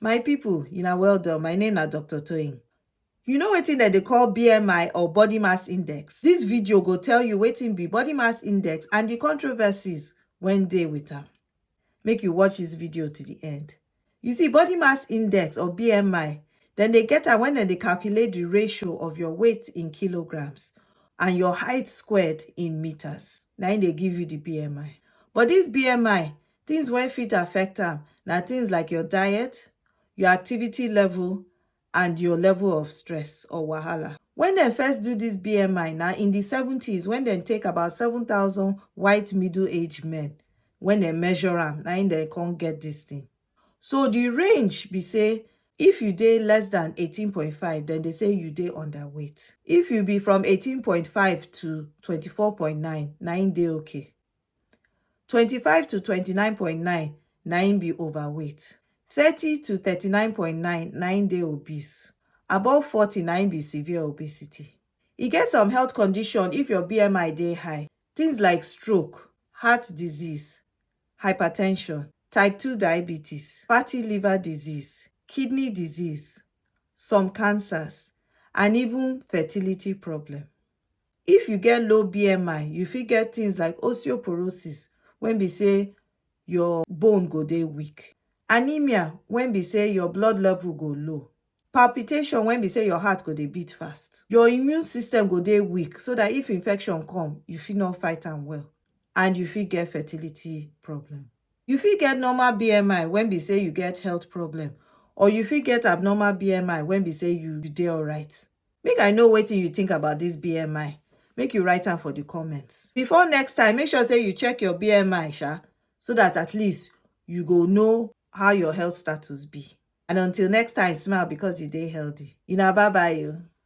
My people, una well done. My name na Dr. Toyin. You know wetin dem dey call BMI or body mass index? This video go tell you wetin be body mass index and the controversies wey dey with am. Make you watch this video to the end. You see, body mass index or BMI, dem dey get am when dem dey calculate the ratio of your weight in kilograms and your height squared in meters. Na im dey give you the BMI. But this BMI, Things wey fit affect am na things like your diet, your activity level and your level of stress or wahala. When dem first do this BMI na in the seventies when dem take about seven thousand white middle age men when dem measure am na im dem come get this thing. So the range be say if you dey less than eighteen point five dem dey say you dey under weight. If you be from eighteen point five to twenty four point nine na im dey okay. twenty five to twenty nine point nine na im be overweight thirty to thirty nine point nine na im dey obese above forty na im be severe obesity e get some health condition if your BMI dey high things like stroke heart disease hypertension type two diabetes fatty liver disease kidney disease some cancers and even fertility problem. If you get low BMI, you fit get things like osteoporosis when be say your bone go dey weak, anemia when be say your blood level go low, palpitation when be say your heart go dey beat fast, your immune system go dey weak so that if infection come, you fit not fight am well and you fit get fertility problem. You fit get normal BMI when be say you get health problem or you fit get abnormal BMI when be say you dey alright. Make I know wetin you think about this BMI. Make you write am for the comments. Before next time, make sure say you check your BMI sha so that at least you go know how your health status be. And until next time, smile because you dey healthy. Una bye bye o.